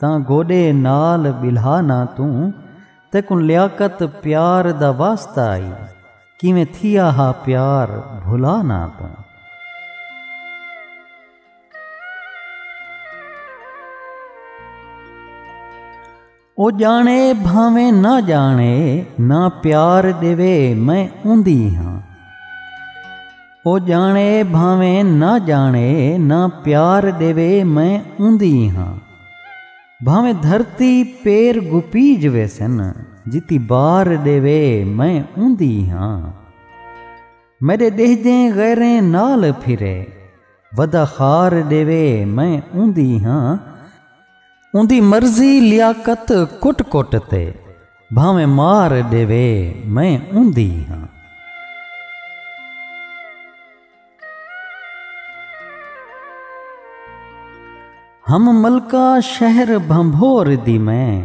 تاں گوݙے نال ٻلھا نہ توں تیکوں لیاقت پیار دا واسطہ آئی کیویں تھیا ہا پیار بھلا نہ توں۔ او ڄاݨے بھانویں نہ ڄاݨے نہ پیار ݙیوے میں اوندی ہاں۔ او ڄاݨے بھانویں نہ ڄاݨے نہ پیار ݙیوے میں اوندی ہاں بھانویں دھرتی پیر گھپیج ویسن جتی بار ݙیوے میں اوندی ہاں میݙے ݙیہجیں غیریں نال پھرے ودا خار ݙیوے میں اوندی ہاں اوندی مرضی لیاقت کٹ کٹ تے بھاویں مار ڈیوے میں اوندی ہاں ہم ملکہ شہر بھنبھور دی میں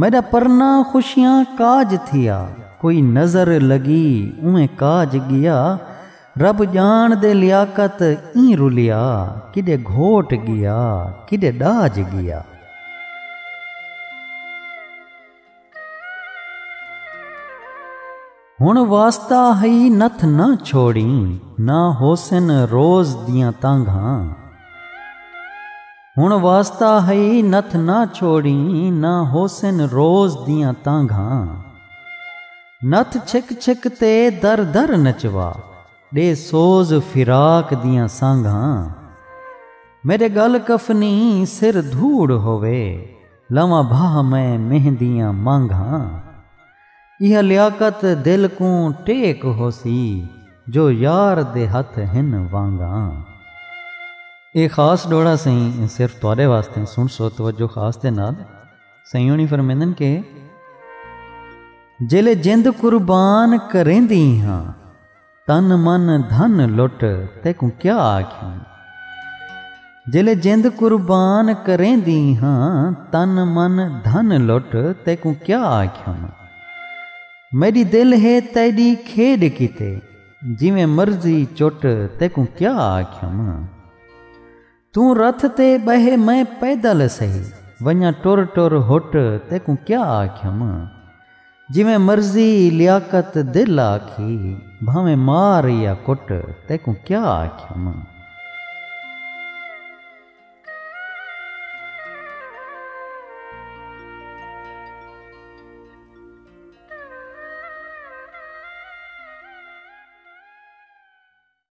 میݙا پرنا خوشیاں کاج تھیا کوئی نظر لڳی اونویں کاج ڳیا رب ڄاݨ دے لیاقت ایں رلیا کݙے گھوٹ ڳیا کݙے ݙاج ڳیا۔ ہن واسطہ ہئی نتھ نہ چھوڑیں نہ ہوسن روز دیاں تانگھاں ہن واسطہ ہئی نتھ نہ چھوڑیں نہ ہوسن روز دیاں تانگھاں نتھ چھک چھک تے در در نچوا ڈے سوز فراق دیاں سانگھاں میڈے گل کفنی سر دھوڑ ہووے لواں بھاہ میں مہندیاں مانگھاں۔ ایہا لیاقت دل کوں ٹیک ہوسی جو یار دے ہتھ ہن وانگاں۔ اے خاص ڈوہڑا سئیں صرف تہاڈے واسطے سنڑسو توجہ خاص دے نال سئیں ہونی فرمیندن کہ۔ جیلے جند قربان کریندی ہاں تن من دھن لٹ تیکوں کیا آکھیں جیلے جند قربان کریندی ہاں تن من دھن لٹ تیکوں کیا آکھیں میڈی دل ہے تیڈی کھیڈ کیتے جیویں مرضی چٹ تیکوں کیا آکھیں توں رتھ تے ٻہہ میں پیدل سہی ونڄاں ٹر ٹر ہٹ تیکوں کیا آکھیم جیویں مرضی لیاقت دل آکھی بھانویں مار یا کٹ تیکوں کیا آکھیم۔